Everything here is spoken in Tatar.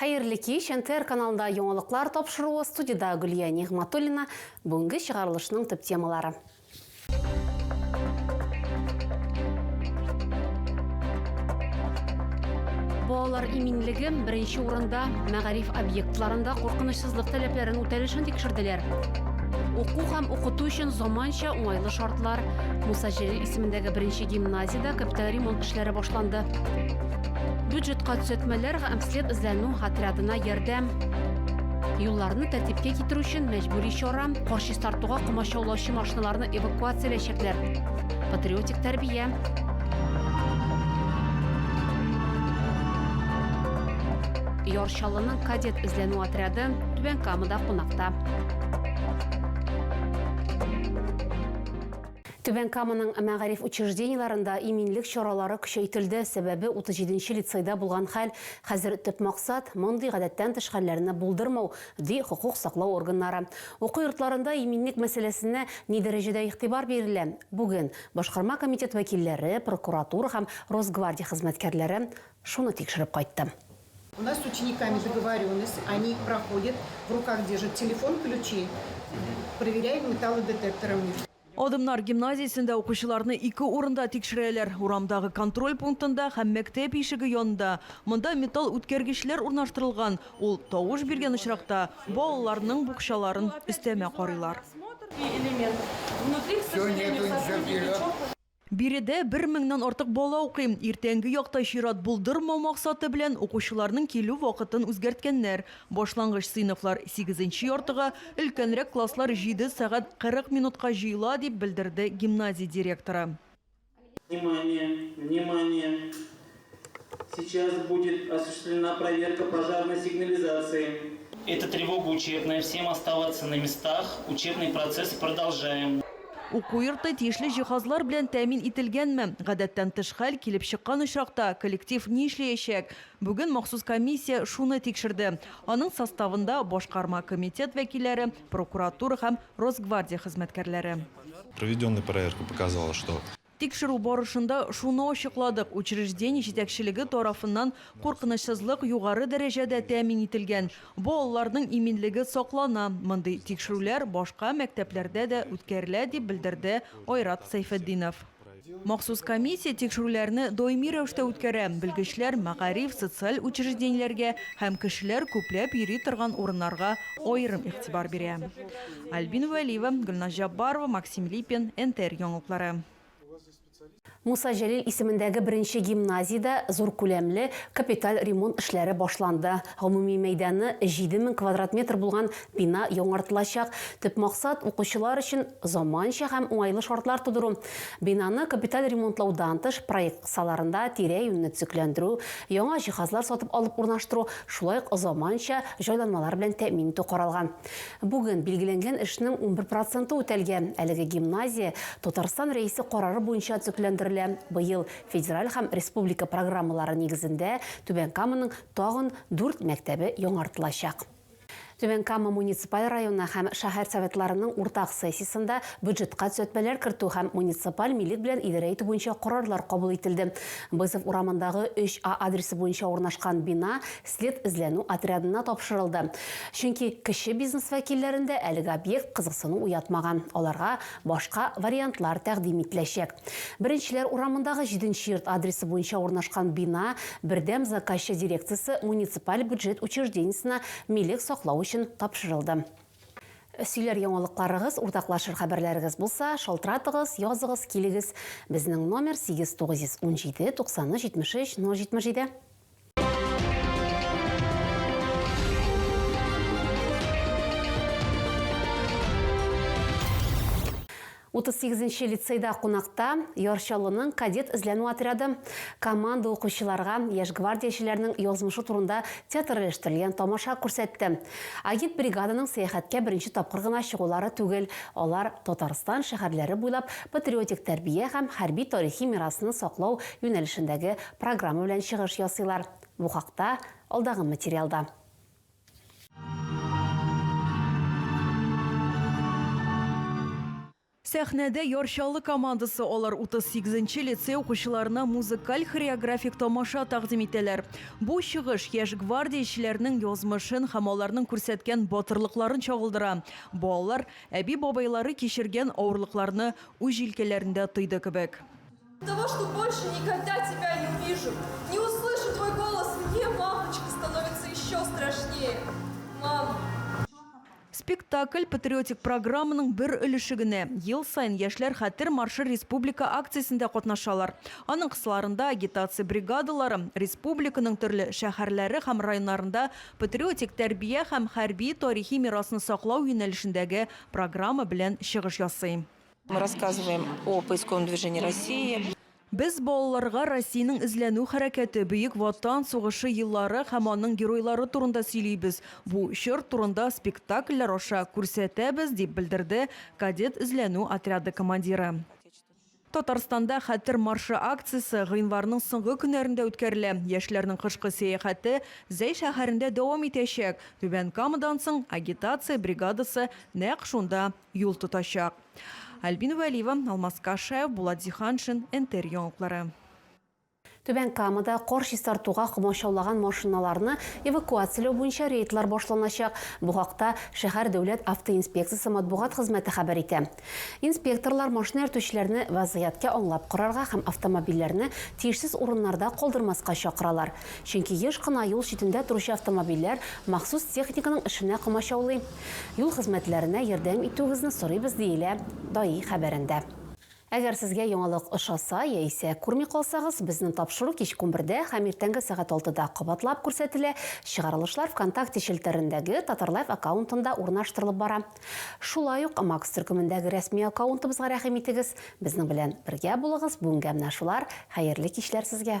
Хәерле кич! НТР каналында яңалыклар тапшыруы, студиядә Гөлия Нигъматуллина, бүгенге чыгарылышның төп темалары. Балалар иминлеге, беренче урында, мәгариф объектларында куркынычсызлык таләпләрен үтәлешен тикшерделәр. Уку һәм укыту өчен заманча, уңайлы шартлар. Муса Җәлил исемендәге беренче гимназиядә капиталь ремонт эшләре башланды. Бюджетка төзәтмәләр һәм след эзләнү отрядына ярдәм. Юлларны тәртипкә китерү өчен мәҗбүри чара, кар чистартуга комачаулаучы машиналарны эвакуацияләячәкләр. Патриотик тәрбия. Яр Чаллының кадет эзләнү отряды Түбән Камада кунакта. Түбән Каманың мәгариф учреждениеләрендә иминлек чаралары көчәйтелде, сәбәбе, 37 нче лицейда булган хәл, хәзер төп максат, мондый гадәттән тыш хәлләрне булдырмау, ди хокук саклау органнары. Уку йортларында иминлек мәсьәләсенә ни дәрәҗәдә игътибар бирелә? Бүген Башкарма комитет вәкилләре, прокуратура һәм Росгвардия хезмәткәрләре шуны тикшереп кайтты. У нас с учениками договоренность, они их проходят, в руках держат телефон, ключи, проверяем металлодетекторами. Адымнар гимназиясендә укучыларны ике урында тикшерәләр, урамдагы контроль пунктында һәм мәктәп ишеге янында. Монда металл үткәргечләр урнаштырылган, ул тавыш биргән очракта, балаларның букчаларын өстәмә карыйлар. Биредә бер меңнән артык бала укый. Иртәнге якта чират булдырмау максаты белән укучыларның килү вакытын үзгәрткәннәр. Башлангыч сыйныфлар сигезенче яртыга, өлкәнрәк класслар җиде сәгать кырык минутка җыела, дип белдерде гимназия директоры. Внимание! Внимание! Сейчас будет осуществлена проверка пожарной сигнализации. Это тревога учебная, всем оставаться на местах, учебный процесс продолжаем. Уку йорты тиешле җиһазлар белән тәэмин ителгәнме? Гадәттән тыш хәл килеп чыккан очракта, коллектив ни эшләячәк? Бүген махсус комиссия шуны тикшерде. Аның составында, башкарма комитет вәкилләре, прокуратура һәм Росгвардия хезмәткәрләре. Проведенная проверка показала, что Тикшерү барышында шуны ачыкладык, учреждение җитәкчелеге тарафыннан куркынычсызлык югары дәрәҗәдә тәэмин ителгән, балаларның иминлеге саклана. Мондый тикшерүләр башка мәктәпләрдә дә үткәрелә, дип белдерде Айрат Сәйфетдинов. Махсус комиссия тикшерүләрне даими рәвештә үткәрә, белгечләр мәгариф, социаль учреждениеләргә һәм кешеләр күпләп йөри торган урыннарга аерым игътибар бирә. Альбина Вәлиева, Гөлназ Җаббарова, Максим Липин, НТР яңалыклары. Муса Җәлил исемендәге беренче гимназиядә зур күләмле капиталь ремонт эшләре башланды. Гомуми мәйданы 7 мең квадрат метр булган бина яңартылачак. Төп максат, укучылар өчен заманча һәм уңайлы шартлар тудыру. Бинаны капиталь ремонтлаудан тыш, проект кысаларында тирә-юньне төзекләндерү, яңа җиһазлар сатып алып урнаштыру, шулай ук заманча җайланмалар белән тәэмин итү каралган. Бүген билгеләнгән эшнең унбер проценты үтәлгән. Әлеге гимназия Татарстан Рәисе карары буенча төзекләндерелә. Быел федераль һәм республика программалары нигезендә Түбән Каманың тагын дүрт мәктәбе яңартылачак. Түбән Кама муниципаль районы һәм шәһәр Советларының уртак сессиясендә бюджетка төзәтмәләр кертү һәм муниципаль милек белән идарә итү буенча карарлар кабул ителде. Бызов урамындагы 3 А адресы буенча урнашкан бина след эзләнү отрядына тапшырылды, чөнки кече бизнес вәкилләрендә әлеге объект кызыксыну уятмаган, аларга башка вариантлар тәкъдим ителәчәк. Беренчеләр урамындагы җиденче йорт адресы буенча урнашкан бина Бердәм заказчы дирекциясе муниципаль бюджет учреждениесенә милек саклау өчен тапшырылды. Сөйләр яңалыкларыгыз, уртаклашыр хәбәрләрегез булса, шалтыратыгыз, языгыз, килегез. Безнең номер, сигез тугыз йөз унҗиде, туксан өч, җитмеш өч, ноль җитмеш җиде. Утыз сигезенче лицейда кунакта Ярчалының кадет эзләнү отряды команда укучыларга яшь гвардиячеләрнең язмышы турында театральләштерелгән тамаша күрсәтте. Агит бригаданың сәяхәткә беренче тапкыр гына чыгулары түгел, алар Татарстан шәһәрләре буйлап патриотик тәрбия һәм хәрби-тарихи мирасны саклау юнәлешендәге Программа белән чыгыш ясыйлар. Бу хакта алдагы материалда. Сәхнәдә Яр Чаллы командасы алар 38 нче лицей укучыларына музыкаль-хореографик тамаша тәкъдим итәләр. Бу чыгыш яшь гвардиячеләрнең язмышын һәм аларның күрсәткән батырлыкларын чагылдыра. Балалар әби-бабайлары кичергән авырлыкларны үз җилкәләрендә тойды кебек. Того, что больше никогда тебя не увижу, не услышу твой голос, мне, мамочка, становится еще страшнее. Мама. Спектакль патриотик программаның бер өлеше генә. Ел саен яшьләр хәтер маршы республика акциясендә катнашалар. Аның кысаларында агитация бригадалары республиканың төрле шәһәрләре һәм районнарында патриотик тәрбия һәм хәрби тарихи мирасны саклау юнәлешендәге программа белән чыгыш ясый. Мы рассказываем о поисковом движении России. Без балаларга Россиянең эзләнү хәрәкәте, Бөек Ватан сугышы еллары һәм аның геройлары турында сөйлибез, бу чор турында спектакльләр аша күрсәтәбез, дип белдерде кадет эзләнү отряды командиры. Татарстанда Хәтер маршы акциясе гыйнварның соңгы көннәрендә үткәрелә. Яшьләрнең кышкы сәяхәте Зәй шәһәрендә дәвам итәчәк. Түбән Камадан соң агитация бригадасы нәкъ шунда юл тотачак. Альбина Вәлиева, Алмаз Кашаев, Булат Зиһаншин, НТР яңалыклары. Түбән Камада кар чистартуга комачаулаган машиналарны эвакуацияләү буенча рейдлар башланачак. Бу хакта шәһәр дәүләт автоинспекциясе матбугат хезмәте хәбәр итә. Инспекторлар машина йөртүчеләрне вәзгыятькә аңлап карарга һәм автомобильләрне тиешсез урыннарда калдырмаска чакыралар. Чөнки еш кына юл читендә торучы автомобильләр махсус техниканың эшенә комачаулый. Юл хезмәтләренә ярдәм итүегезне сорыйбыз, диелә ДАИ хәбәрендә. Әгәр сезгә яңалык ошаса яисә күрми калсагыз, безнең тапшыру кичке унбердә һәм иртәнге сәгать алтыда кабатлап күрсәтелә, чыгарылышлар ВКонтакте челтәрендәге Татарлайф аккаунтында урнаштырылып бара. Шулай ук Макс төркемендәге рәсми аккаунтыбызга рәхим итегез, безнең белән бергә булыгыз, бүгенгә менә шулар, хәерле кичләр сезгә!